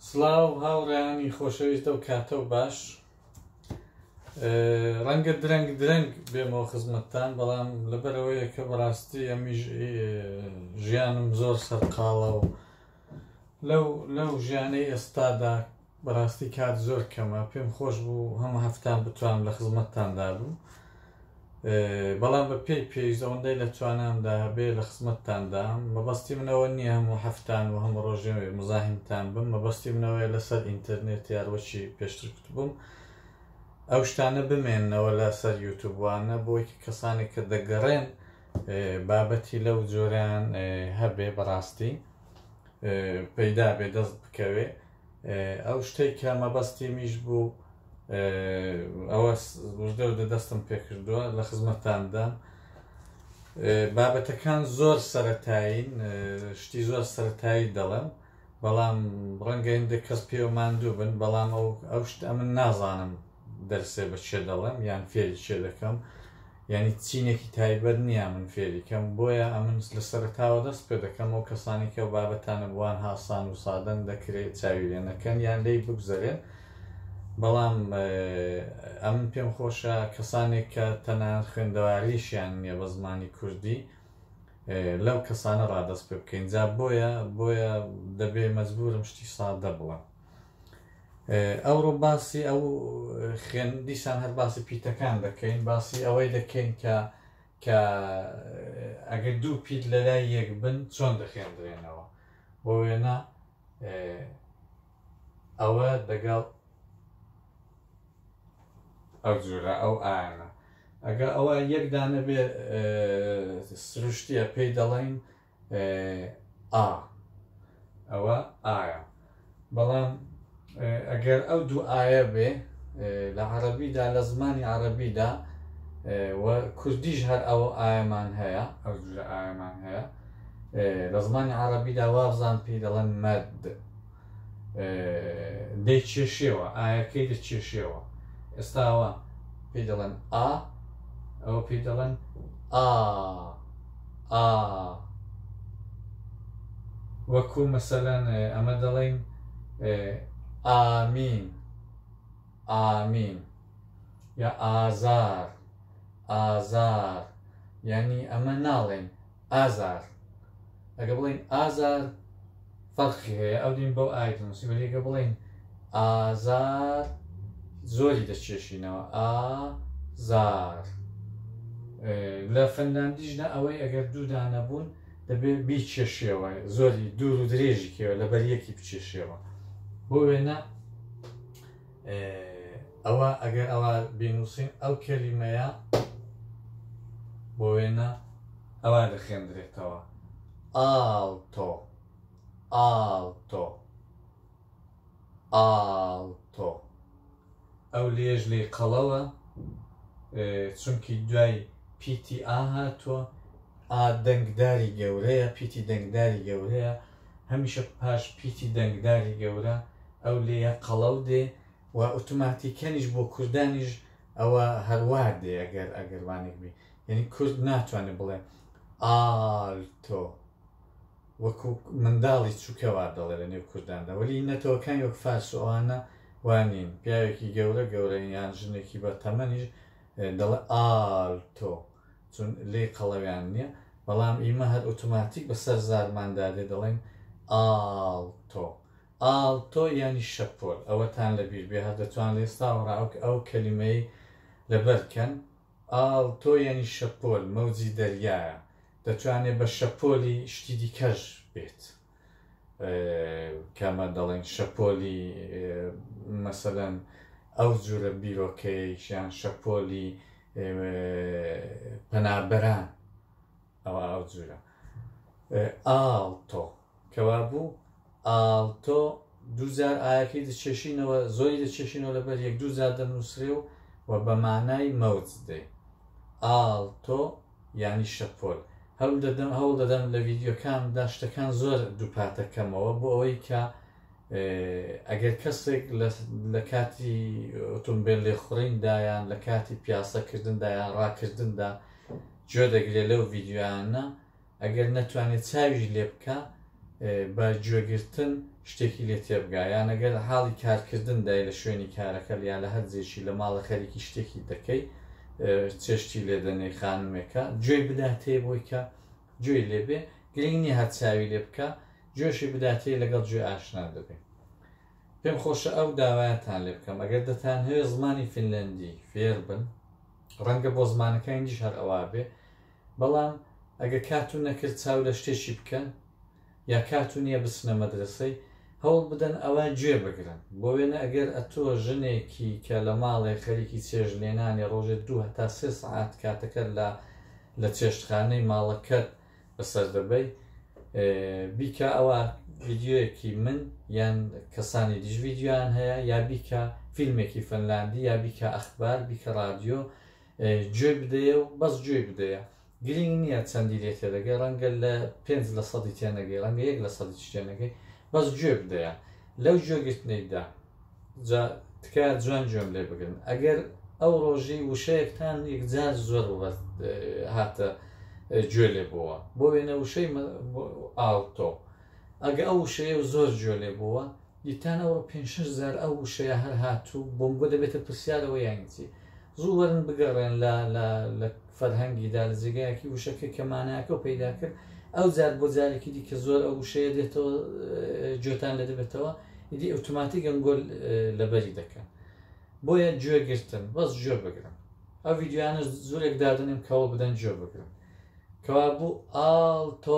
سڵاو هاوڕێیانی خۆشەویست ئەو کاتە و باش ڕەنگە درەنگ درەنگ بێمەوە خزمەتتان بەڵام لەبەرەوەیە کە بەڕاستی ئەمیش ژیانم زۆر سەرقاڵە و لەو لەو ژیانەی ئێستادا بەڕاستی کات زۆر کەمە پێم خۆش بوو هەم هەفتان بتوان لە خزمەتتاندا بوو بەڵام بە پێی پێویست ئەوەندەی لە توانامدا هەبێ لە خزمەتتاندام مەبەستی من ئەوە نییە هەموو هەفتان و هەموو ڕۆژێ مزاحمتان بم مەبەستی من ئەوەیە لەسەر ئینتەرنێت یار وەکی پێشتر کوتبووم ئەو شتانە بمێنەوە لە سەر یوتوب وانە بۆی کە کەسانێک کە دەگەڕێن بابەتی لەو جۆرەیان هەبێ بەڕاستی پەیدا بێ دەست بکەوێ ئەو شتەی کە مەبەستیمیش بوو ئەوە وژدە و دەدەستم پێکردووە لە خزمەتاندام بابەتەکان زۆر سەتایین شتی زۆر سەتایی دەڵێم بەڵام ڕەنگە هندێک کەس پێوە ماندوو بن بەڵام ئەو ئەو شت ئەمن نازانم دەرسێ بە چێ دەڵێم یان فێری چێ دەکەم یعنی چینێکی تایبەت نییە من فێریکەم بۆیە ئەمن لە سەرتاوە دەست پێ دەکەم ئەو کەسانی کە بابەتانە بووان هاسان و سادەن دەکرێت چاوی لێ نەکەن یان لی بگوزەرێن بەڵام ئەم پێم خۆشە کەسانێک کە تەنان خوێندەواریشیان نییە بە زمانی کوردی لەو کەسانە ڕادەست پێ بکەین جا بۆیە بۆیە دەبێ مەجبورم شتی سادە بڵم ئەوڕۆ باسی ئەو خوێن دیسان هەر باسی پیتەکان دەکەین باسی ئەوەی دەکەین کە کە ئەگەر دوو پیت لەلای یەک بن چۆن دەخێندرێنەوە بۆ وێنە ئەوە دەگەڵ ئەو جورە ئەو ئاەنە ئەگە ئەوە یەکدانە بێ سروشتیە پێی دەڵین ئا ئەوە ئایە بەڵام ئەگەر ئەو دوو ئاە بێ لە عەربیدا لە زمانی عەربیدا و کوردیش هەر ئەوە ئایەمان هەیە ئەو دوژە ئایەمان هەیە لە زمانی عەربیدا وابزان پێی دەڵێن مەد دەیکێشێەوە ئایەکەی دەکێشێەوە ئێستاوە پێ دەڵێن ئا ئەوە پێ دەڵێن ئا ئا وەکو مەسەلەن ئەمە دەڵێن ئامین ئامین یا ئازار ئازار یعنی ئەمە ناڵێن ئازار ئەگە بڵین ئازار فەرقی هەیە ئەو دین بەو ئای دەنووسی وەێگە بڵین ئازار زۆری دەچێشینەوە ئازار لە فەنلاندیشدا ئەوەی ئەگەر دوودانە بوون دەبێت بیچێشیەوە زۆری دوور و درێژی کێوە لە بەریەکی بچێشیەوە بۆ وێنە ئێ ئەوە ئەگەر ئەوە بینووسین ئەو کەلیمەیە بۆ وێنە ئەوە دەخێندرێتەوە ئاڵتۆ ئاڵتۆ ئاڵتۆ ئەو لێژ لی قەڵەوە چونکی دوای پیتی ئا هاتووە ئا دەنگداری گەورەیە پیتی دەنگداری گەورەیە هەمیشە پاش پیتی دەنگداری گەورە ئەو لێیە قەڵەو دێ و ئوتوماتیکەنیش بۆ کوردانیش ئەوە هەروا دێ ئەگەر ئەگەروانێک بی یعنی کورد ناتوانێت بڵێ ئالتۆ وەکو منداڵی چووکەوا دەڵێ لە نێو کورداندا وەلی نەتەوەکان وەک فارس و ئەوانە وانین پیاوێکی گەورە گەورە یان ژنێکی بە تەمەنیش دەڵێ ئالتۆ چون لێی قەڵەویان نیە بەڵام ئیمە هەر ئوتوماتیک بە سەر زارمان دا دێ دەڵێن ئاڵ تۆ ئاڵ تۆ یانی شەپۆل ئەوەتان لە بیر بێ هەر دەتوان لە ئێستا وەڕاوک ئەو کەلیمەی لە بەر کەن ئاڵ تۆ یانی شەپۆل مەوجی دەریایە دەتوانێ بە شەپۆلی شتی دیکەش بێت. کامە دەڵێن شەپۆلی مەسەلەن ئەو جورە بیرۆکەیەکیان شەپۆلی پەنابەران ئەو ئەو جورە ئاڵتۆ کەوا بوو ئاڵتۆ دوجار ئاەکەی دەچێشینەوە زۆری دەچێشینەوە لەبەر یەک دوو جار دەنووسرێ و و بە مانای مەوج دێ ئاڵتۆ یانی شەپۆل هەولدەدەم هەوڵدەدەم لە ڤیدیۆکان دا شتەکان زۆر دووپاتە کەمەوە بۆ ئەوەی کە ئەگەر کەسێک لە کاتی ئۆتۆمبیل لێخوڕیندایان لە کاتی پیاسەکردندا یان ڕاکردندا جۆ دەگرێت لەو ڤیددیوانە ئەگەر نەتوانێت چاویش لێ بکە بە گوێگرتن شتێکی لێ تێبگا یان ئەگەر لە حاڵی کارکردن دای لە شوێنی کارەکەل یا لە هەر جێکی لە ماڵە خەریکی شتێکی دەکەی چێشتی لێ دەنێی خانمێکە گوێی بداتێ بۆی کە گوێی لێ بێ گرنگ نییە هەر چاوی لێ بکە گوێشی بداتێ لەگەڵ گوێ ئاشنا دەبێ پێم خۆشە ئەو داوایەتان لێ بکەم ئەگەر دەتان هەیە زمانی فینلندی فێر بن ڕەنگە بۆ زمانەکە ئینگلیش هەر ئەوا بێ بەڵام ئەگە کاتو نەکرد چاو لە شتێکی بکەن یا کاتو نیە بچنە مەدرەسەی هەوڵ بدەن ئەوە گوێ بگرن بۆ وێنە ئەگەر ئەتۆ ژنێکی کە لە ماڵێ خەریکی چێژ لێنانی ڕۆژێ دوو هەتا سێ سەعات کاتەکەت لە لە چێشتخانەی ماڵەکەت بەسەر دەبەی بیکە ئەوە ڤیدیۆیەکی من یان کەسانی دیش ڤیدیۆیان هەیە یا بیکە فیلمێکی فەنلاندی یا بیکە ئەخبار بیکە ڕادیۆ گوێی بدەیە و بەس گوێی بدەیە گرینگ نیە چەندی لێ تێدەگەی رەنگە لە پێنج لە سەدی تێنەگەی رەنگە یەک لە سەدیش تێنەگەی بەس گوێ بدەیە لەو گوێگرتنەیدا جا تکایە جوان گوێم لێ بگرن ئەگەر ئەو رۆژی وشەیەکتان یەکجار زۆر بە هاتە گوێ لێ بووە بۆ وێنە وشەی ئاڵتۆ ئەگە ئەو وشەیە و زۆر گوێ لێ بووە دیتان ئەوڕۆ پێنج شش جار ئەو وشەیە هەر هاتوو بۆم بۆ دەبێتە پرسیارەوە یانچی زوو وەرن بگەڕێن لە لە لە فەرهەنگی دا لە جێگایەکی وشەکە کە مانایەکە و پەیدا کرد ئەو جار بۆ جارێکی دی کە زۆر ئەو وشەیە دێتەوە جۆتان لە دەبێتەوە ئیدی ئۆتوماتیک ئەنگۆل لەبەری دەکەن بۆیە گوێ گرتن بەس گوێ بگرن ئەو ڤیددیوانە زورێک دادنێن کەەوە بدەن گوێ بگرن کەوا بوو ئاڵ تۆ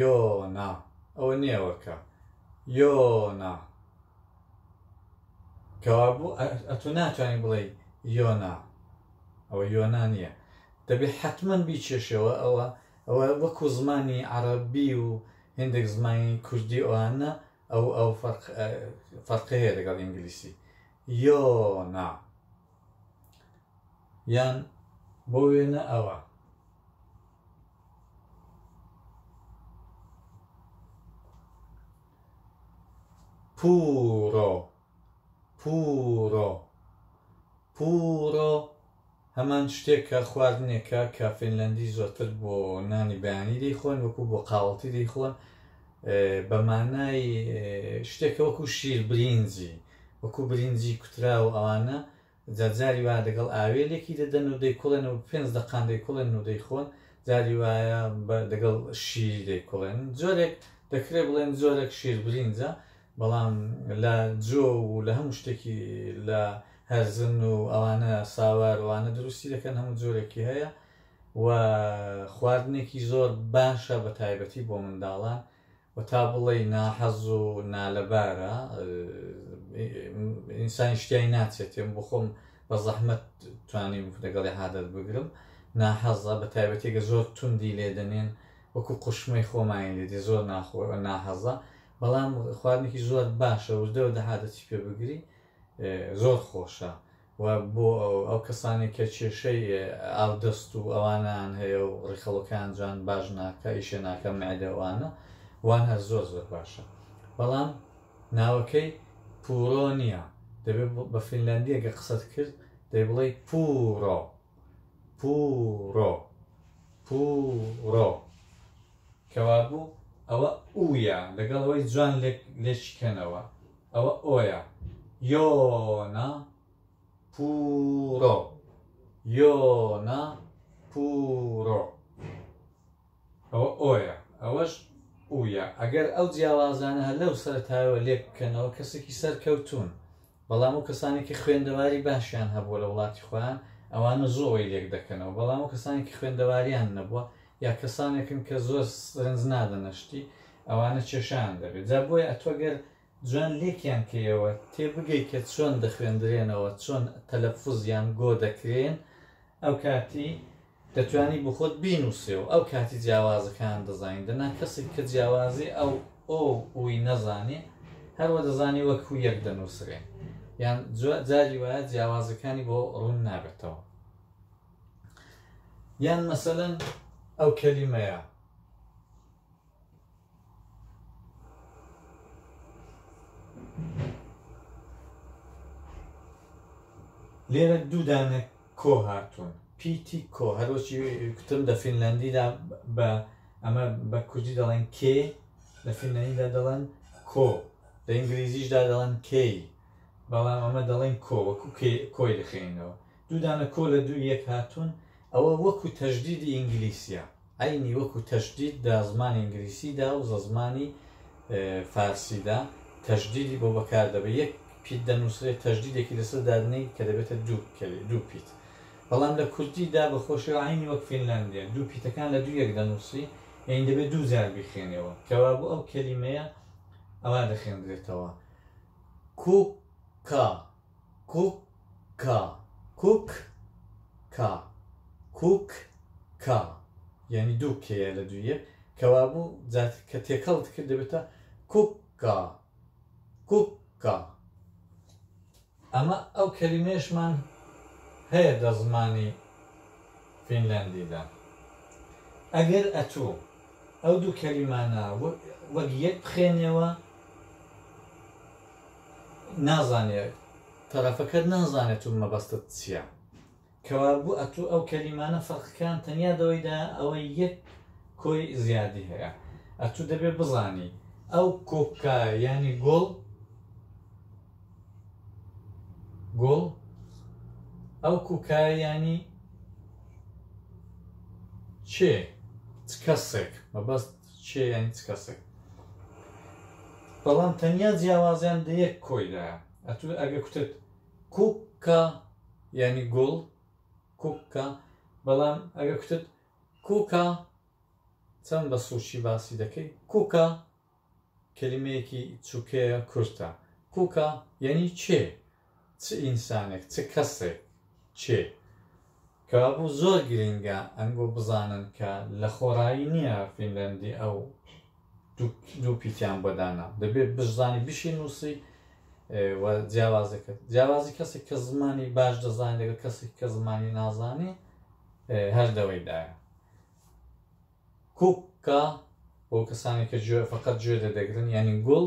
یۆ نا ئەوە نێوە کە یۆ نا کەوابوو ئەتو ناتوانانی بڵێی یۆ نا ئەوە یۆ نا نییە دەبێت حتممەن بیچێشەوە ئەوە ئەوە وەکو زمانی عربی و هندێک زمانی کوردی ئەوانە ئەو ئەو فەرقی هەیە لەگەڵ ئینگلیسی یۆ نا یان بۆ وێنە ئەوە پوورۆ، پوورۆ، پوورۆ هەمان شتێکە، خواردنێکە کە فینلەندی زۆرتر بۆ نانی بەیانی دەیخۆن، وەکو بۆ قاوەڵتی دەیخۆن، بە مانای شتێکە وەکو شیر برینجی، وەکو برینجی کوتراو ئەوانە، جار جاری وایە دەگەڵ ئاوێلێکی دەدەن و دەیکوڵێن و پێنج دەقان دەیکوڵێن و دەیخۆن، جاری وایە بە دەگەڵ شیری دەیکوڵێن. جۆرێک دەکرێ بڵێن جۆرێک شیربرینجە، بەڵام لە جۆ و لە هەموو شتێکی لە هەرزن و ئەوانە ساوار وانە دروستی دەکەن، هەموو جۆرێکی هەیە و خواردنێکی زۆر باشە بە تایبەتی بۆ منداڵان و تا بڵێی ناحەز و نالەبارە ئینسانیش تیای ناچێت من بۆ خۆم بە زەحمەت توانیم لەگەڵی عادەت بگرم ناحەزە بە تایبەتێکە زۆر توندی لێ دەنێن وەکو قوشمەی خۆمانی لێدی زۆر ناخۆ ناحەزە بەڵام خواردنێکی زۆر باشە وردەوە دەهادەچی پێ بگری زۆر خۆشە و بۆ ئەو کەسانەی کە کێشەی ئاودەست و ئەوانەیان هەیە و ڕیخەڵۆکەیان جوان باش ناکا ئیشێ ناکا مەعدە و ئانە وان هەر زۆر زۆر باشە بەڵام ناوەکەی پورۆ نییە دەبێ بە فینلاندیەگە قسەت کرد دەی بڵێی پورۆ پورۆ پورۆ کەوابوو ئەوە ئویە لەگەڵ ئەوەی جوان لێک لێکیکەنەوە. ئەوە ئۆیە. یۆنە پووڕۆ یۆنە پووڕۆ ئەوە ئۆیە ئەوەش ئویە ئەگەر ئەو جیاوازانە هەر لەو سەرتایەوە لێک بکەنەوە کەسێکی سەرکەوتون بەڵام و کەسانێکی خوێندەواری باشیان هەبووە لە وڵاتی خۆیان ئەوانە زۆر ئەوەی لێک دەکەنەوە بەڵام و کەسانێکی خوێندەواریان نەبووە یا کەسانێکن کە زۆر سرنج نادەنە شتی ئەوانە کێشەیان دەبێت جا بۆیە ئەتوە گەر جوان لێکیان کەیەوە تێ بگەی کە چۆن دەخوێندرێنەوە چۆن تەلەفوز یان گۆ دەکرێن ئەو کاتی دەتوانی بخۆت بینوسێ و ئەو کاتی جیاوازەکان دەزانین دەنا کەسێک کە جیاوازی ئەو ئۆ وی نەزانێ هەروە دەزانی وەک و یەک دەنووسرێن یان جاری وایە جیاوازەکانی بۆ ڕوون نابێتەوە یان مەسەلەن ئەو کەلیمەیە لێرە دوودانە کۆ هاتوون پیتی کۆ هەروەچی کوتم دە فینلندیدا بە ئەمە بە کوردی دەڵێن کێ لە فینلندیدا دەڵێن کۆ لە ئینگلیزیشدا دەڵێن کێی بەڵام ئەمە دەڵێن کۆ وەکو کۆی دەخێنەوە دوو دانە کۆ لە دووی یەک هاتوون ئەوە وەکو تەژدیدی ئینگلیسیە عەینی وەکو تەژدید دە زمانی ئینگلیسی دا و زە زمانی فارسی دا تەژدیدی بۆ بەکار دەبێت یەک پیت دەنووسرێت تەژدیدێکی لەسەر دادنی کە دەبێتە دوو کەلی دوو پیت بەڵام لە کوردی دا بە خۆشی و عینی وەک فینلاندیە دوو پیتەکان لە دوو یەک دەنووسی یعنی دەبێت دوو جار بیخێنەوە کەوا بۆ ئەو کەلیمەیە ئەوا دەخێندرێتەوە کوکا کوککا کوک کا کوک کا یانی دوو کێیە لە دوو یەک کەوابوو جا کە تێکەڵت کرد دەبێتە کوککا کوککا ئەمە ئەو کەلیمەیەشمان هەیە لە زمانی فینلەندیدا ئەگەر ئەتوو ئەو دوو کەلیمانە وەک یەک بخێنێەوە نازانێ تەرەفەکەت نازانێ تۆ مەبەستت چیە کەوابوو ئەتوو ئەو کەلیمانە فەرقکان تەنیا دەوەیدا ئەوە یەک کۆی زیادی هەیە ئەتوو دەبێ بزانی ئەو کۆکە ینی گۆڵ گۆڵ ئەو کوکایانی چێ کەسێک مەبەست چێ یانی چ کەسێک بەڵام تەنیا جیاوازیان لە یەک کۆیلایە ئەتو ئەگە کوتت کوکە یانی گوڵ کوکە بەڵام ئەگە کوتت کوکە چەند بە سوچی باسی دەکەی کوکە کلمەیەکی چووکەیە کورتە کوکە یعنی چێ چ ئینسانێک چ کەسێک کێ کەوابوو زۆر گرینگە ئەنگۆ بزانن کە لە خۆڕایی نییە فینلەندی ئەو دوو پیتیان بۆ دانا دەبێت بشزانی بشی نووسی جیاوازەکە جیاوازی کەسێک کە زمانی باش دەزانانی لەگەڵ کەسێک کە زمانی نازانی هەردەوەیدایە کوکە بۆ کەسانی کە فقط گوێ دەدەگرن یعنی گوڵ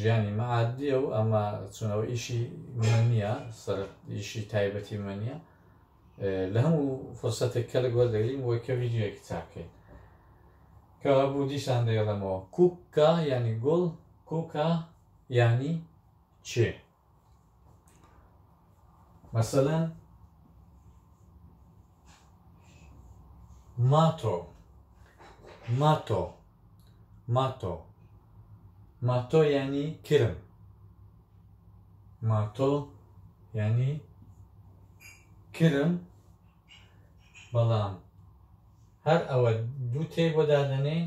ژیانی مەعادیە و ئەمە چونەوە ئیشی من نییە سەر ئیشی تایبەتی من نیە لە هەموو فرسەتێک کەلک وەردەگرین بۆی کە ویددیوەکی تاکەین کە هەبوو دیسان دەیڵێمەوە کوکە ینی گوڵ کوکە ینی چێ مەسەلەن ماتۆ ماتۆ ماتۆ ماتۆ ینی کرم ماتۆ ینی کرم بەڵام هەر ئەوە دوو تێی بۆ دادەنێن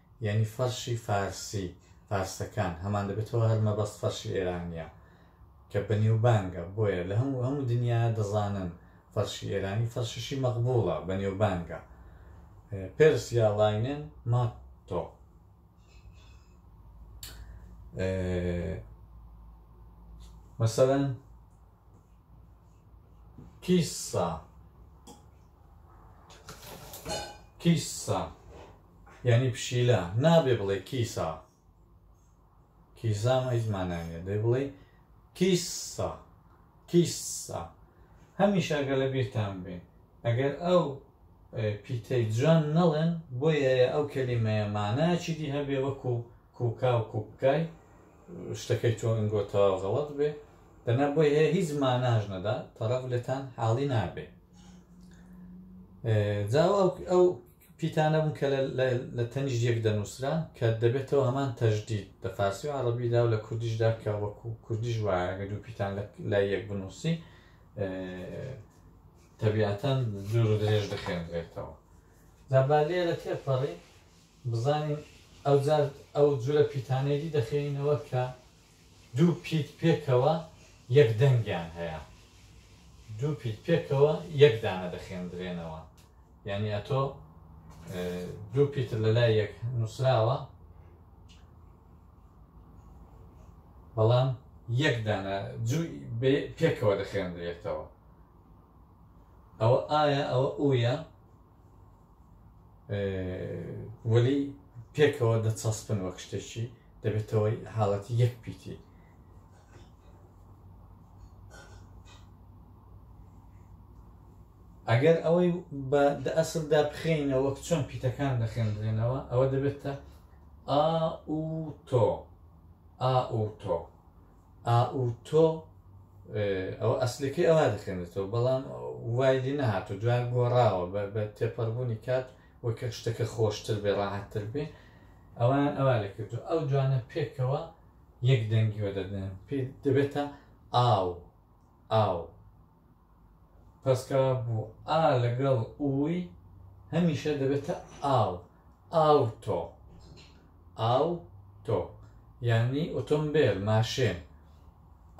یانی فەرشی فارسی، فارسەکان، هەمان دەبێتەوە هەر مەبەست فەرشی ئێرانییە کە بەنێوبانگە بۆیە لە هەموو هەموو دنیا دەزانن فەرشی ئێرانی فەرشیشی مەقبووڵە بەنێوبانگە پێرس یا ڵاینێن ماتۆ مەسەلەن کیسا کیسا یانی پشیلە نابێ بڵێ کیسا کیسام هیچ مانای نیە دەی بڵێ کیسا کیسا هەمیشە ئەگەر لە بیرتان بێ ئەگەر ئەو پیتەی جوان نەڵێن بۆیە ئەو کەلیمەیە مانایەکی دی هەبێ وەکو کوکا و کوپکای شتەکەی تۆ ئەنگۆ تەواو غەڵەت بێ دەنا بۆی هەیە هیچ ماناش نەدا تەڕەف لێتان حاڵی نابێ جاو ئەو پیتانە بوون کە لە تەنیشت یەک دەنووسران، کە دەبێتەوە هەمان تەژدید، لە فارسی و عەڕەبیدا و لە کوردیشدا، کە وەکوو کوردیش وایە، گەر دوو پیتان لای یەک بنووسی، تەبیاتەن دوور و درێژ دەخوێندرێتەوە. جا با لێرە تێپەڕین، بزانین ئەوجار ئەو جورە پیتانەی دی دەخوێنینەوە کە، دوو پیت پێکەوە یەک دەنگیان هەیە. دوو پیت پێکەوە یەک دانە دەخێندرێنەوە. یانی ئەتۆ دوو پیتت لە لای یەک نووسراوە، بەڵام یەک دانە جووی پێکەوە دەخێندرێتەوە. ئەوە ئایا ئەوە ئوویە؟ وەلی پێکەوە دەچەسپن وەک شتێکی دەبێتەوەی حاڵەتی یەک پیتی ئەگەر ئەوەی بە ئەسلدا بخێنە وەک چۆن پیتەکان دەخێنرێنەوە ئەوە دەبێتە ئا و تۆ ئا و تۆ ئاوتۆ ئەوە ئەسلەکەی ئەوا دەخێنێتەوە بەڵام وای لێ نەهاتوو دوای گۆڕاوە بە تێپەڕبوونی کات وەکە شتەکە خۆشتر بێ ڕاحەتتر بێ ئەوان ئەوا لە کردو ئەو دوانە پێکەوە یەک دەنگیوە دەدەن پێ دەبێتە ئاو ئاو پەسکا بو ئا لەگەڵ ئوی هەمیشە دەبێتە ئاو ئاوتۆ ئاو تۆ یانی ئۆتۆمبێل ماشێن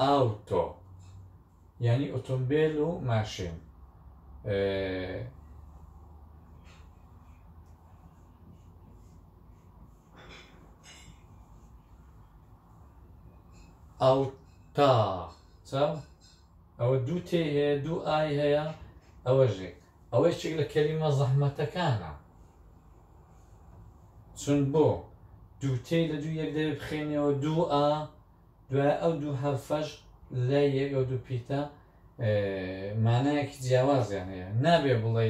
ئاو تۆ یانی ئۆتۆمبێل و ماشێن ئاو تا چاو ئەوە دوو تێی هەیە دوو ئای هەیە ئەوەش یەک ئەوە یەکێک لە کەلیمە زەحمەتەکانە چون بۆ دوو تێی لە دوو یەک دەوێ بخێنیەوە دوو ئا دوای ئەو دوو حرفەش لە یەک ئەو دوو پیتە مانایەکی جیاوازیان هەیە نابێ بڵێ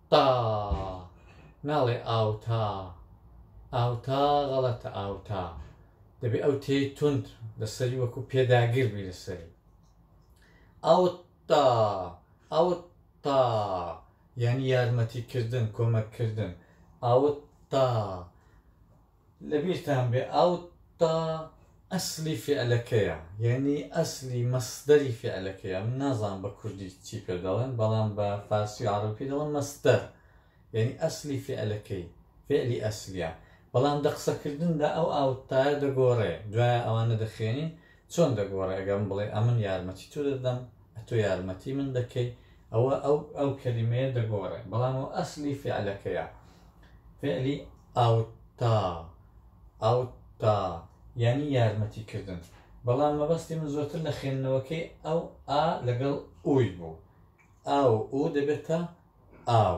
تا ناڵێ ئاوتا ئاوتا غەڵەتە ئاوتا دەبێ ئەو تێی تونند لەسەری وەکو پێداگر بی لەسەری ئەوتا ئەوتا یعنی یارمەتیکردن کۆمەککردن ئەوتا لەبیرتان بێ ئاو تا ئەسلی فیعلەکەیە یەعنی ئەسلی مەسدەری فیعلەکەیە من نازانم بە کوردی چی پێ دەڵێن بەڵام بە فارسی و عەڕەبی پێ دەڵێن مەسدەر یەعنی ئەسلی فیعلەکەی فیعلی ئەسلیە بەڵام دە قسەکردندا ئەو ئاو تایە دەگۆڕێ دوایە ئەوانە دەخوێنین چۆن دەگۆڕێ ئەگەر من بڵێ ئەمن یارمەتی تۆ دەدەم ئەتۆ یارمەتی من دەکەی ئەوە ئەو ئەو کەلیمەیە دەگۆڕێ بەڵام ئەو ئەسلی فعلەکەیە فعلی ئەوتا ئەوتا یعنی یارمەتی کردن بەڵام مەبەستی من زۆرتر لە خوێندنەوەکەی ئەو ئا لەگەڵ ئوی بوو ئاو ئو دەبێتە ئاو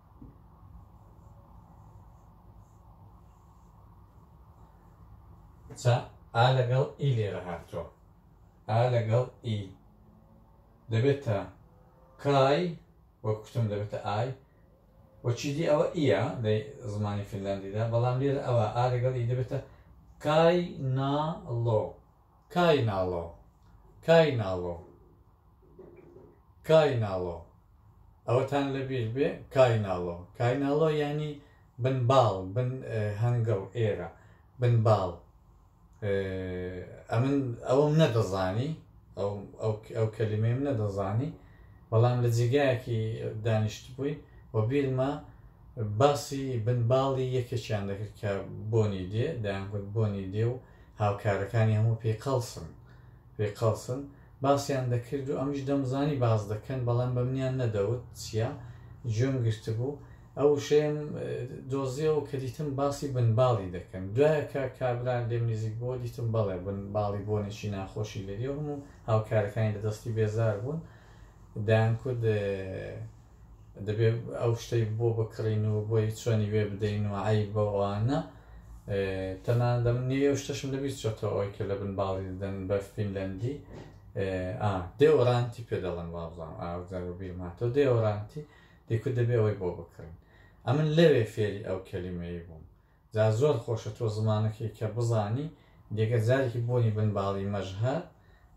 چا ئا لەگەڵ ئی لێرە هاتووە ئا لەگەڵ ئی دەبێتە کای وەک کوتم دەبێتە ئای وەچیدی ئەوە ئیە لە زمانی فینلاندیدا بەڵام لێرە ئەوە ئا لەگەڵ ئی دەبێتە کای نا لۆ کای ناڵۆ کای ناڵۆ کای ناڵۆ ئەوەتان لەبیر بێ کای ناڵۆ کای ناڵۆ یعنی بن باڵ بن هەنگڵ ئێرە بن باڵ ئەمن ئەوم نەدەزانی ئەو کەلیمەیم نەدەزانی بەڵام لە جێگایەکی دانیشت بووین و بیرمە باسی بن باڵی یەکێکیان دەکرد کە بۆنی دێ دەیان گوت بۆنی دێ و هاوکارەکانی هەموو پێی قەڵسن پێی قەڵسن باسیان دەکرد و ئەمیش دەمزانی باس دەکەن بەڵام بە منیان نەدەوت چییە گوێم گرتبوو ئەو وشەیەم دۆزیەوە کە دیتم باسی بن باڵی دەکەن دوایە کە کابرا لێم نزیک بۆ دیتم بەڵێ بن باڵی بۆنێکی ناخۆشی لێ دێ هەموو هاوکارەکانی لە دەستی بێزار بوون دەیان کود دەبێت ئەو شتەی بۆ بکڕین و بۆی چۆنی وێ بدەین و ئای بەوانە تەنان دەم نوێ و شتەشم لەبیست چۆتەوە ئەوی کە لە بن باڵی دەن بە فینلەندی دێوەرانتی پێ دەڵێن وابزان ئاودار و بیرماتۆ دێوەرانتی دیکو دەبێ ئەوەی بۆ بکڕین ئەمن لەوێ فێری ئەو کەلیمەیە بووم جا زۆر خۆشە تۆ زمانەکەی کە بزانی جگە جارێکی بۆنی بن باڵی مەژهەر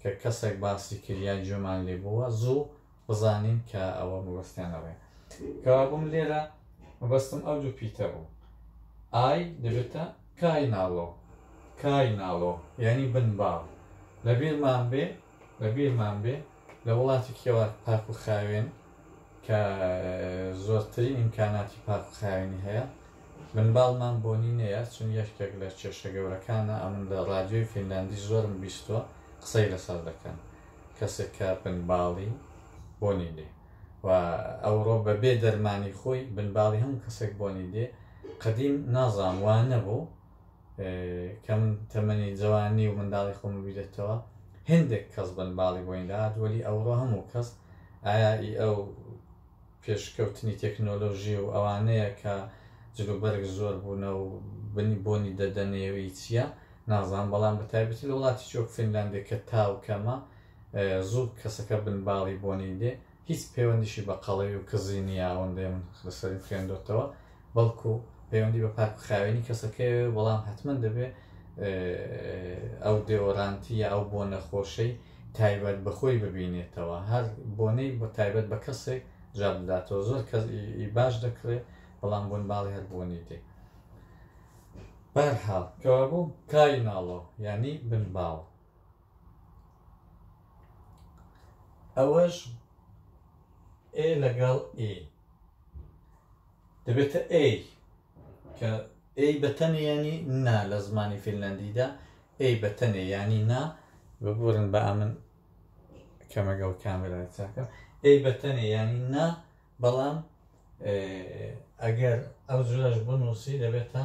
کە کەسەک باسی کرد یا گوێمان لێ بووە زوو بزانین کە ئەوە مەبەستیان ئەوەیە کەوابووم لێرە مەبەستم ئەو دوو پیتە بوو ئای دەبێتە کای ناڵۆ کای ناڵۆ یعنی بن باڵ لە بیرمان بێ لە بیرمان بێ لە وڵاتێکی وا پاک و خاوێن کە زۆرترین ئیمکاناتی پاک و خاوێنی هەیە، منباڵمان بۆنی نەیە، چون یەکێک لە کێشە گەورەکانە، ئەمن لە ڕادیۆی فینلاندی زۆرم بیستووە قسەی لەسەر دەکەن، کەسێک کە بنباڵی بۆنی دێ و ئەوڕۆ بە بێ دەرمانی خۆی بنباڵی هەموو کەسێک بۆنی دێ، قەدیم نازانم وا نەبوو، کەم تەمەنی جەوانی و منداڵی خۆم بیرێتەوە هندێک کەس بن باڵی بۆین داات وەلی ئەوڕۆ هەموو کەس ئایا ئی ئەو پێشکەوتنی تەکنۆلۆژی و ئەوانەیە کە جلوبەرگ زۆر بوونە و بنی بۆنی دەدەنێوی چییە نازان بەڵام بە تایبەتی لە وڵاتی چۆک فینلاندێک کە تاو کەمە زوو کەسەکە بن باڵی بۆنی دێ هیچ پەیوەندیشی بە قەڵەوی و کزی نییە ئەوەندەی من لەسەریم خوێندۆتەوە بەڵکو پەیوەندی بە پاک خاوێنی کەسەکەی بەڵام حتمما دەبێ ئەو دێۆرانتی یا ئەو بۆ نەخۆشەی تایبەت بەخۆی ببینێتەوە هەر بۆنەی بە تایبەت بە کەسێک جا بداتەوە زۆر کەس باش دەکرێت بەڵام بوون باڵی هەر بۆنی دی بەرحاڵ کەوابوو کای ناڵۆ ینی بن باڵ ئەوەش ئێ لەگەڵ ئی دەبێتە ئەی کە ئەی بەتەنێ ینی نا لە زمانی فینلندیدا ئەی بەتەنێ ینی نا ببورن بە ئەمن کەمەگەڵ کامێرا چاکە ئەی بەتەنێ ینی نا بەڵام ئەگەر ئەو جورەش بنووسی دەبێتە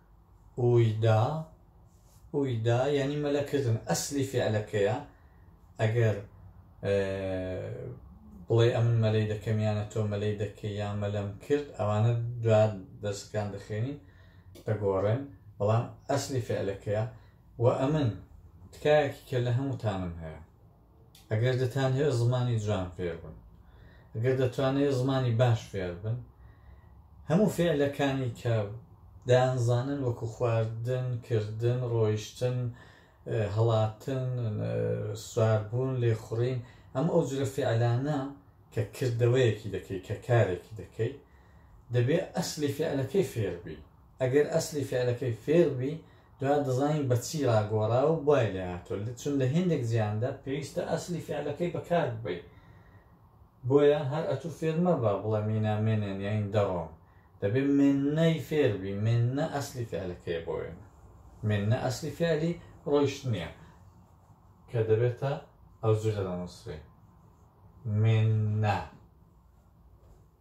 ئویدا ئویدا یعنی مەلە کردن ئەسلی فعلەکەیە ئەگەر بڵێ ئەمن مەلەی دەکەمیانە تۆ مەلەی دەکە یا مەلەم کرد ئەوانە دوا دەستکان دەخێنین دەگۆڕێن بەڵام ئەسلی فعلەکەیە و ئەمن تکایەکی کە لە هەمووتانم هەیە ئەگەر دەتانەوێت زمانی جوان فێربن ئەگەر دەتوانێت زمانی باش فێربن هەموو فێلەکانی کە دانزانن وەکو خواردن کردن ڕۆیشتن هەڵاتن سواربوون لێخوڕین ئەم ئەو جرە فعلانە کە کردەوەیەکی دەکەی کە کارێکی دەکەی دەبێت ئەسلی فعلەکەی فێربی ئەگەر ئەسلی فعلەکەی فێڵ بی دوات دەزانین بە چی ڕاگۆڕاو بای لێ هاتوە چون لە هێندێک جیاندا پێویستە ئەسلی فعلەکەی بە کار ببەی بۆیە هەر ئەتو فێر مەبە بڵێ مینا مێنێن یاین دەڕۆم دەبێ مێننەی فێر بی مێننە ئەسلی فعلەکەی بۆ وێنە مێننە ئەسلی فعلی ڕۆیشتنیە کە دەبێتە ئەو جورە دەنووسرێ مێننە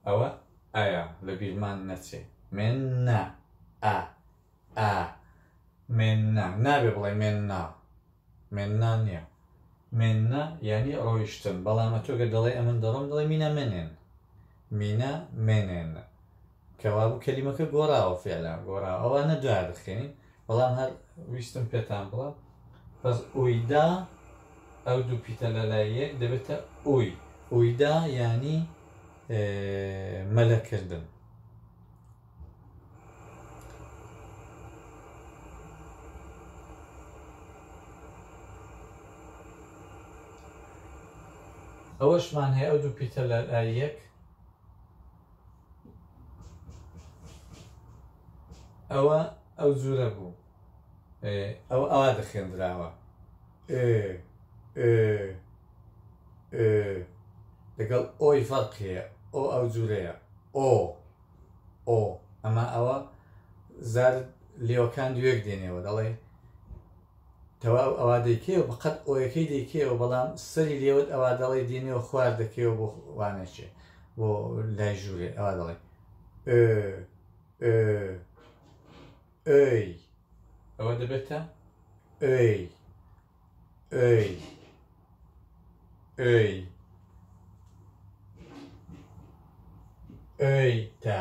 ئەوە ئایا لە بیرمان نەچێ مێن نا ئا ئا مێن نا نابێ بڵێ مێن نا مێن نا نییە مێن نا یعنی ڕۆیشتن بەڵامە تۆگە دەڵێ ئەمن دەڕۆم دەڵێ مینە مێنێن مینە مێنێن کەوابوو کەلیمەکە گۆڕاوە فێلا گۆڕاوە ئەوانە دوای دەخێنین بەڵام هەر ویستم پێتان بڵێم بەس ئویدا ئەو دوو پیتە لە لای یەک دەبێتە ئوی ئویدا یانی مەلەکردن ئەوەشمان هەیە ئەو دوو پیتە لە لای یەک ئەوە ئەو جورە بوو ئەو ئاوا دەخێندراوە لەگەڵ ئۆی فەرق هەیە ئۆ ئەو جورەیە ئۆ ئۆ ئەمە ئەوە زار لێوەکان دوێک دێنێەوە دەڵێ تەواو ئەوا دەیکەیەوە بەقەد ئۆیەکەی دەیکەیەوە بەڵام سەری لێوەت ئەوا دەڵێی دێنێوە خوار دەکەیەوە بۆ وانەچێ بۆ لای ژوورێ ئەوا دەڵێ ئۆ ئۆ ئۆی ئەوە دەبێتە ئۆی ئۆی ئۆی ئۆی تا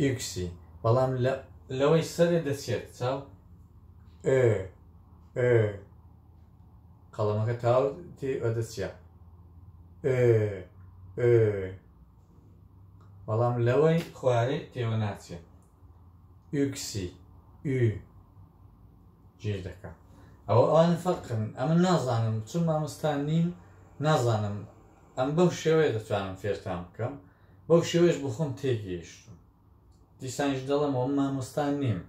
ئیکسی بەڵام لە لەوەی سەرێ دەچێت چاو ئێ ئێ قەڵەمەکە تاو تێ ئەدەچە ئێ ئێ بەڵام لەوەی خوارێ تێوە ناچێت ئیکسی ئی جێ دەکەم ئەوە ئەوان فەقن ئەمە نازانم چون مامۆستان نیم نازانم ئەم بەم شێوەیە دەتوانم فێرتان بکەم بەو شێوەیەش بۆ خۆم تێگەیشتوم دیسانیش دەڵێمەوە من مامۆستا نیم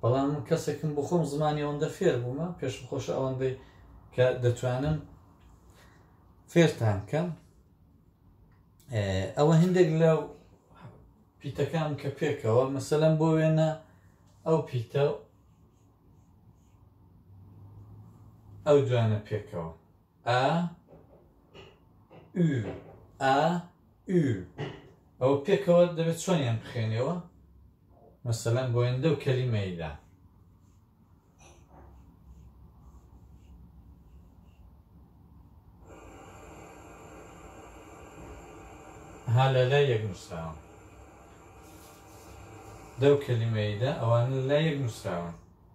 بەڵام من کەسێکم بۆ خۆم زمانی ئەوەندە فێر بوومە پێشم خۆشە ئەوەندەی کە دەتوانم فێرتان بکەم ئەوە هەندێک لە پیتەکان کە پێکەوە مەسەلەم بۆ وێنە ئەو پیتە ئەو دوانە پێکەوە ئا ئو ئا ئو ئەوە پێکەوە دەبێت چۆنیان بخێنەوە مەسەلەن بۆیندە و کەلیمەیدا ها لە لای یەک نووسراوە دەو کەلیمەیدا ئەوان لە لای یەک نووسراوە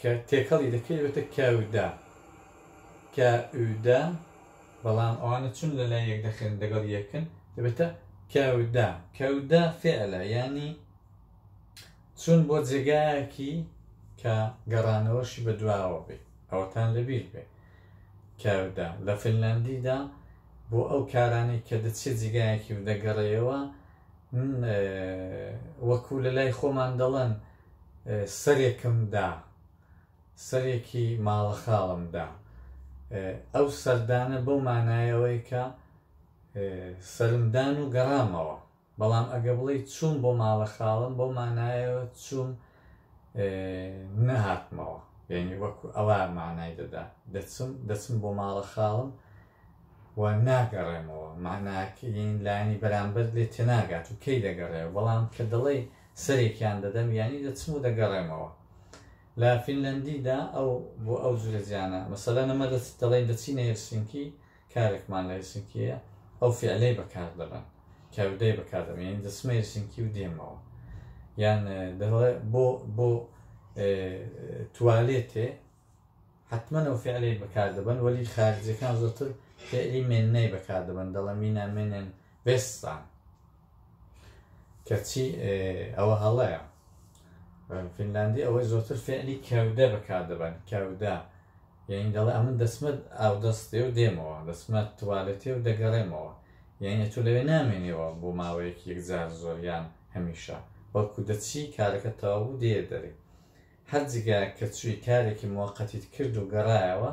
کە تێکەڵی دەکەی دەبێتە کەودا، کەودا، بەڵام ئەوانە چون لە لای یەک دەخرێن دەگەڵ یەکن دەبێتە کەودا، کەودا فعلە یانی چون بۆ جێگایەکی کە گەڕانەوەشی بە دواوە بێ ئەوەتان لەبیر بێ کەودا لە فنلاندیدا بۆ ئەو کارانەی کە دەچێ جیگایەکی و دەگەڕێەوە وەکو لە لای خۆمان دەڵێن سەرێکم دا سەرێکی ماڵە خاڵم دا ئەو سەردانە بەو مانایەوەی کە سەرمدان و گەڕامەوە بەڵام ئەگە بڵێ چوون بۆ ماڵە خاڵم بۆ مانایەوە چوون نەهاتمەوە یعنی وەکو ئەوە مانای دەدا دەچم دەچم بۆ ماڵە خاڵم و ناگەڕێمەوە، مەعناکەی یەنی لایەنی بەرامبەرت لێ تێناگات و کەی دەگەڕێ، بەڵام کە دەڵێی سەرێکیان دەدەم یەنی دەچم و دەگەڕێمەوە. لە فینلەندیدا ئەو بۆ ئەو جورە جیانە، مەسەلەن ئەمە دەڵێین دەچینە هێلسینکی، کارێکمان لە هێلسینکی هەیە، ئەو فیعلەی بەکار دەبەن، کەودەی بەکار دەبەن، یەنی دەچمە هێلسینکی و دێمەوە. یان دەڵێ بۆ بۆ توالێتێ؟ حەتمەن ئەو فعلەی بەکار دەبەن وەلی خارجیەکان زۆرتر فعلی مێننەی بەکار دەبەن دەڵە مینا مێنێن بێستان کەچی ئەوە هەڵەیە فینلاندی ئەوەی زۆرتر فعلی کەودە بەکار دەبەن کەودە یعنی دەڵێ ئەمن دەسمەت ئاو دەستێ و دێمەوە دەسمەت توالێتێ و دەگەڕێمەوە یعنی تۆ لەوێ نامێنێەوە بۆ ماوەیەکی یەکجار زۆریان هەمیشە بەڵکو دەچی کارەکە تەواو دێ دەری هەر جگە کە چوی کارێکی موەقەتیت کرد و گەڕایەوە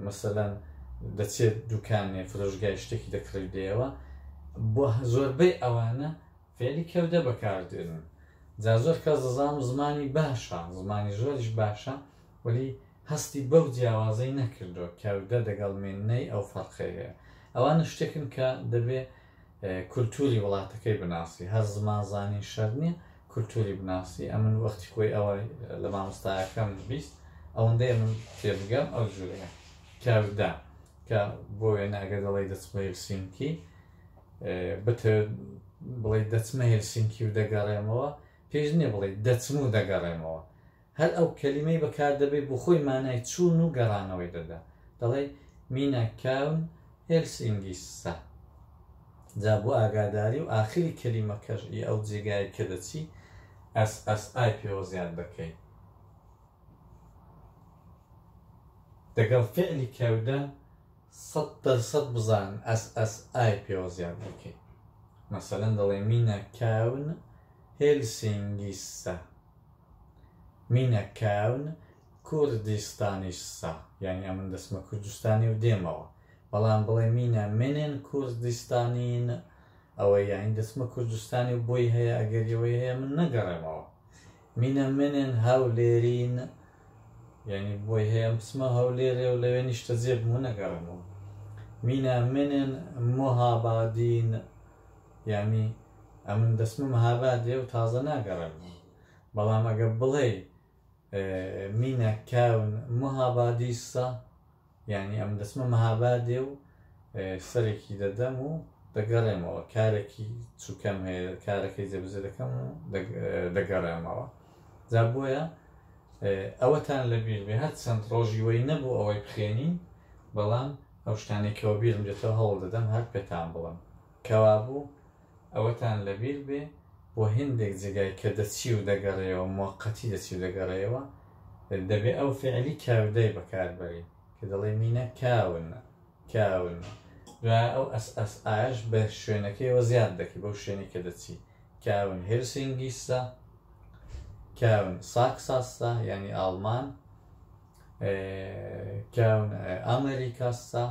مەسەلەن دەچێت دوکانێ فرۆشگای شتێکی دەکڕی دێەوە بۆ زۆربەی ئەوانە فێلی کەودە بەکاردێنن جا زۆر کەس دەزانم زمانی باشە زمانی زۆریش باشە ولی هەستی بەو جیاوازەی نەکردو کەودە دەگەڵ مێنەی ئەو فەرقەیە ئەوانە شتێکن کە دەبێ کولتوری وڵاتەکەی بناسی هەر زمان زانین شەرت نیە کولتوری بناسی ئەمن وەختی خۆی ئەوە لە مامۆستایەکەم بیست ئەوەندەیە من تێبگەم ئەو جورەیە کاودا کە بۆ وێنە ئەگەر دەڵی دەچمە هلسینکی بتر بڵێ دەچمە هلسینکی و دەگەڕێمەوە پێش نیە بڵێ دەچم و دەگەڕێمەوە هەر ئەو کەلیمەی بەکار دەبەی بۆ خۆی مانای چوون و گەڕانەوەی دەدا دەڵێی مینە کاون هێلس ئینگیسسا جا بۆ ئاگاداری و ئاخری کەلیمەکەش ئی ئەو جێگای کە دەچی ئەس ئەس ئای پێوە زیاد دەکەی دەگەڵ فعلی کەودە سەد دەرسەد بزان ئەس ئەس ئای پێوە زیاد دەکەی مەسەلەن دەڵێ مینە کاون هێلسینگیسسا مینە کاون کوردیستانیش سە یانی ئەمن دەسمە کوردستانی و دێمەوە بەڵام بڵێ مینە منن کوردیستانین ئەوە یانی دەسمە کوردستانی و بۆی هەیە ئەگەر یەوەی هەیە من نەگەڕێمەوە مینە منن هەولێرین یعنی بۆی هەیە ئەم بسمە هەولێرێ و لەوێ نیشتە جێ بمو نەگەڕێمەوە مینە منن مهابادین یانی ئەمن دەسمە مهاباد لێو تازە ناگەڕێم بەڵام ئەگە بڵێ مینە کاون مهابادیسە یانی ئەم دەسمە مهابادێ و سەرێکی دەدەم و دەگەڕێمەوە کارێکی چووکەم هەیە کارەکەی جێبزە دەکەم و دەگەڕێمەوە جا بۆیە ئەوەتان لەبییر بێ هەر چەند ڕۆژیوەی نەبوو ئەوەی بخێنین بەڵام ئەو شتانەی کە وەبیرم دێتەوە هەوڵ دەدەم هەر پێتان بڵێم. کەوابوو ئەوەتان لەبیر بێ بۆ هێندێک جێگای کە دەچی و دەگەڕێیەوە، موەقەتی دەچی و دەگەڕێیەوە، دەبێ ئەو فیعلی کاودای بەکار بەرین کە دەڵێی مینە کاون، کاون. دوایە ئەو ئەس ئەس ئایەش بە شوێنەکەیەوە زیاد دەکەی، بەو شوێنەی کە دەچی. کاون هێلسینگیسە، کاون ساکساسە، یانی ئاڵمان. کاون ئامریکا سا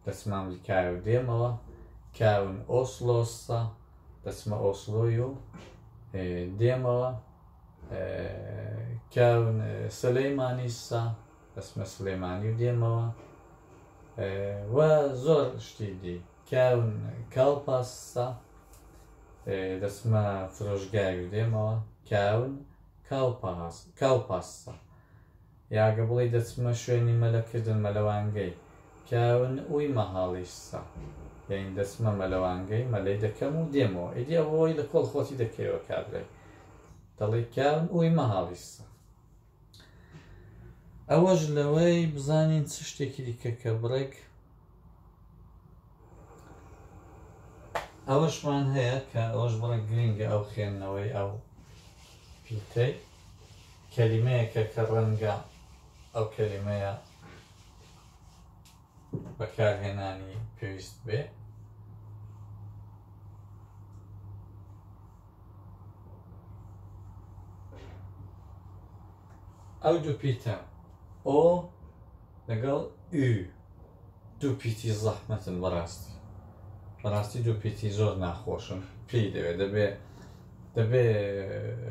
دەچمە ئەمریکای و دێمەوە کاون ئۆسلۆ سا دەچمە ئۆسلۆی و دێمەوە کاون سلەیمانی سا دەچمە سلێمانی و دێمەوە و زۆر شتی دی کاون کاڵپاس سا دەچمە فرۆشگای و دێمەوە کاون کاڵپاس کاڵپاس سا یا گە بڵی دەچمە شوێنی مەلە کردن مەلەوانگەی پیاو ن ئوی مەهاڵیش سە یین دەچمە مەلەوانگەی مەلەی دەکەم و دێمەوە ئیدی ئە وەی لە کۆڵ خۆتی دەکەیەوە کابرای دەڵی پیاو ن ئوی مەهاڵیش سە ئەوەش لەوەی بزانین چ شتێکی دیکە کە بڕێک ئەوەشمان هەیە کە ئەوەش بڕێک گرینگە ئەو خوێندنەوەی ئەو پیتەی کەلیمەیەکە کە ڕەنگە ئەو کەلیمەیە بەکارهێنانی پێویست بێ ئەو دوو پیتە ئۆ لەگەڵ ئی دوو پیتی زەحمەتن بەڕاستی بەڕاستی دوو پیتی زۆر ناخۆشن پێی دەوێت دەبێ دەبێ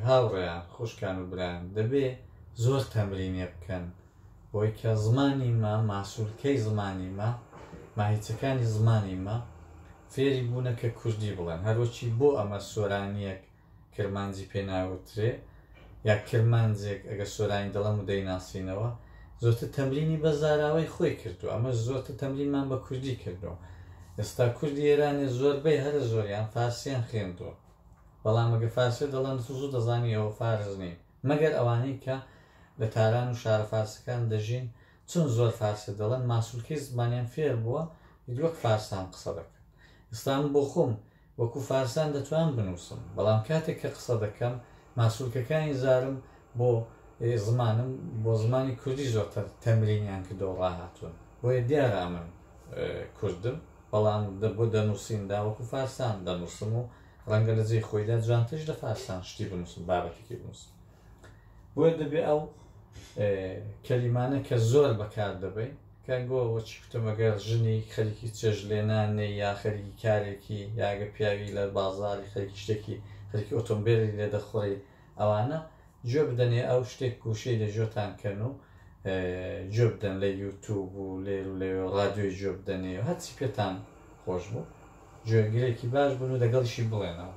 هاوڕێیان خوشکان و برایان دەبێ زۆر تەمرینێ بکەن بۆی کە زمانی مە ماسوولکەی زمانی مە ماهیچەکانی زمانی مە فێری بوونە کە کوردی بڵێن هەروەچی بۆ ئەمە سۆرانیەک کرمانجی پێ ناوترێ یا کرمانجێک ئەگەر سۆرانی دەڵێم و دەیناسینەوە زۆرتر تەمرینی بە زاراوەی خۆی کردو ئەمە زۆرتر تەمرینمان بە کوردی کردو ئێستا کوردی ئێرانێ زۆربەی هەرە زۆریان فارسیان خوێندووە بەڵام ئەگە فارسی دەڵێن زوو دەزانی ئەوە فارس نین مەگەر ئەوانەی کە لە تاران و شارە فارسەکان دەژین چون زۆر فارسی دەڵێن ماسولکەی زمانیان فێر بووە وەک فارسان قسە دەکەن ئێستام بۆ خۆم وەکو فارسان دەتوانم بنووسم، بەڵام کاتێک کە قسە دەکەم ماسولکەکانی زارم بۆ زمانم بۆ زمانی کوردی زۆرتر تەمرینیان کردووە و ڕاهاتوون. بۆیە دیارە ئەمن کوردم، بەڵام بۆ دەنووسیندا وەکو فارسان دەنووسم و ڕەنگە لە جێی خۆیدا جوانتریش لە فارسان شتی بنووسم، بابەتێکی بنووسم. بۆیە دەبێ ئەو کەلیمانە کە زۆر بەکار دەبین کە گۆ وەچی کوتەمەگەر ژنی خەریکی چێژ لێنانێ یا خەریکی کارێکی یاگە پیاوی لە بازاری خەریکی شتێکی خەریکی ئۆتۆمبیلی لێ دەخوڕی ئەوانە گوێ بدەنێ ئەو شتێک گوشەی لە ژۆتان کەن و گوێ بدەن لە یوتوب و لێر و لەوێ و رادیۆی گوێ بدەنێ و هەرچی پێتان خۆش بوو گوێگرێکی باش بن و دەگەڵیشی بڵێنەوە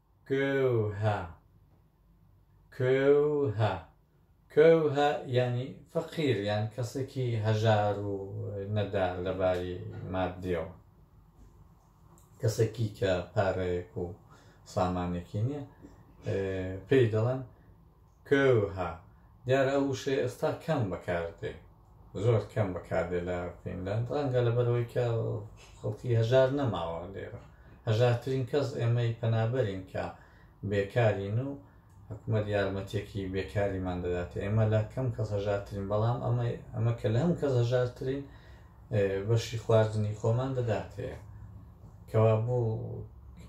کۆوهە کۆوهە کۆوهە یانی فەقیر یان کەسێکی هەژار و نەدار لە باری ماددیەوە کەسێکی کە پارەیەک و سامانێکی نییە پێی دەڵێن کۆوهە، دیارە ئەو وشەیە ئێستا کەم بەکار دێ، زۆر کەم بەکار دێ لە فینلاند، ڕەنگە لەبەر ئەوەی کە خەڵکی هەژار نەماوە لێرە، هەژارترین کەس ئێمەی پەنابەرین کە بێکارین و حکومەت یارمەتیەکی بێکاریمان دەداتێ، ئێمە لە کەم کەس هەژارترین، بەڵام ئەمە کە لە هەموو کەس هەژارترین، بەشی خواردنی خۆمان دەداتێ کەوا بوو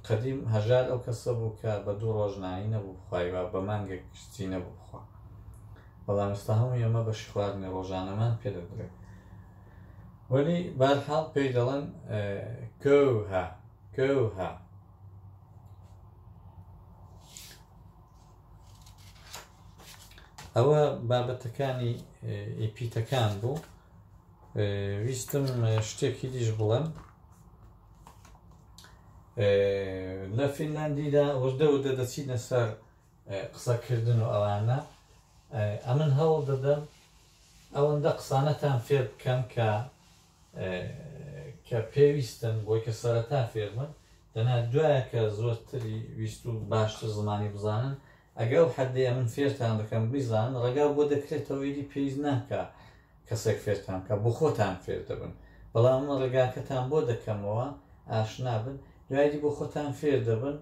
قەدیم هەژار ئەو کەسە بوو کە بە دوو ڕۆژنانی نەبوو بخوایوە بە مانگە کشتی نەبوو بخوا بەڵام ئستا هەموو ئێمە بەشی خواردنی ڕۆژانەمان پێ دەدرێت وەلی بارحاڵ پێی دەڵێن کەوها کەوها ئەوە بابەتەکانی ئیپیتەکان بوو ویستم شتێکی دیش بڵێم لە فینلاندیدا وردە وردە دەچینە سەر قسەکردن و ئەوانە ئەمن هەوڵ دەدەم ئەوەندە قسانەتان فێر بکەم کە کە پێویستن بۆی کە سەرەتا فێرمن دەنا دوایە کە زۆرتری ویست و باشتر زمانی بزانن ئەگە ئەو حەدەیە من فێرتان دەکەم بیزان ڕێگا بۆ دەکرێتەوە ئیدی پێویست ناکا کەسێک فێرتان بکا بۆ خۆتان فێر دەبن بەڵام من ڕێگاکەتان بۆ دەکەمەوە ئاشنا بن دوایدی بۆ خۆتان فێر دەبن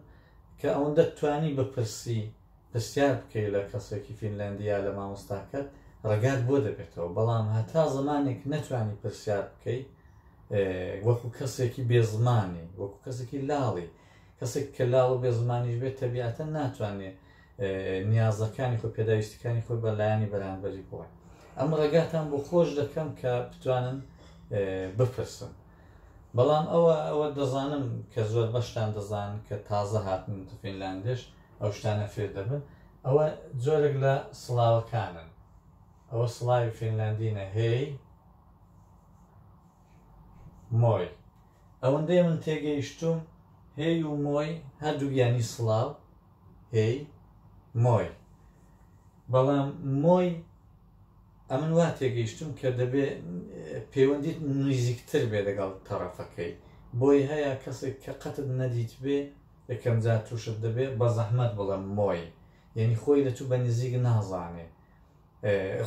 کە ئەوەندە توانی بپرسی پرسیار بکەی لە کەسێکی فینلەندی یا لە مامۆستاکەت ڕێگات بۆ دەبێتەوە بەڵام هەتا زمانێک نەتوانی پرسیار بکەی وەکو کەسێکی بێزمانی وەکو کەسێکی لاڵی کەسێک کە لاڵ و بێ زمانیش بێت تەبیعەتەن ناتوانێ نیازەکانی خۆ پێداویستەکانی خۆی بە لایانی بەرانبەری بڵێ ئەم ڕێگاتان بۆ خۆش دەکەم کە بتوانن بپرسن بەڵام ئەوە ئەوە دەزانم کە زۆر بەشتان دەزان کە تازە هاتن فینلاندێش ئەو شتانە فێر دەبن ئەوە جۆرێک لە سڵاوەکانن ئەوە سڵاوی فینلاندینە هەیە مۆی ئەوەندەی من تێگەیشتووم هێی و مۆی هەردووک یانی سڵاو، هێی، مۆی. بەڵام مۆی ئەمن وا تێگەیشتووم کە دەبێ پێوەندیت نزیکتر بێ لەگەڵ تەڕەفەکەی. بۆی هەیە کەسێک کە قەتت نەدیتبێ یەکەم جار تووشت دەبێ بەزەحمەت بڵێم مۆی یانی خۆی لە تو بە نزیک نازانێ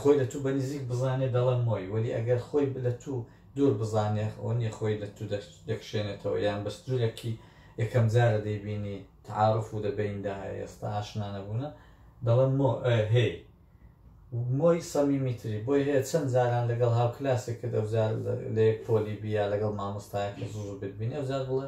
خۆی لە تو بەنزیک بزانێ دەڵێم مۆی وەلی ئەگەر خۆی لە تو دور بزانێ ئەونیە خۆی لە تو دەکشێنێتەوە یان بە سنورێکی یەکەم جارە دەیبینی تعارف و دەبەیندا ئێستا ئاشنا نەبونە دەڵێم مۆ هەی مۆی سەمیمیتری بۆی هەیە چەند جاران لەگەڵ هاوکلاسێک کرد ئەوجار لە یەک پۆلی بیا لەگەڵ مامۆستایەکە زوو بتبینی ئەوجار بڵێ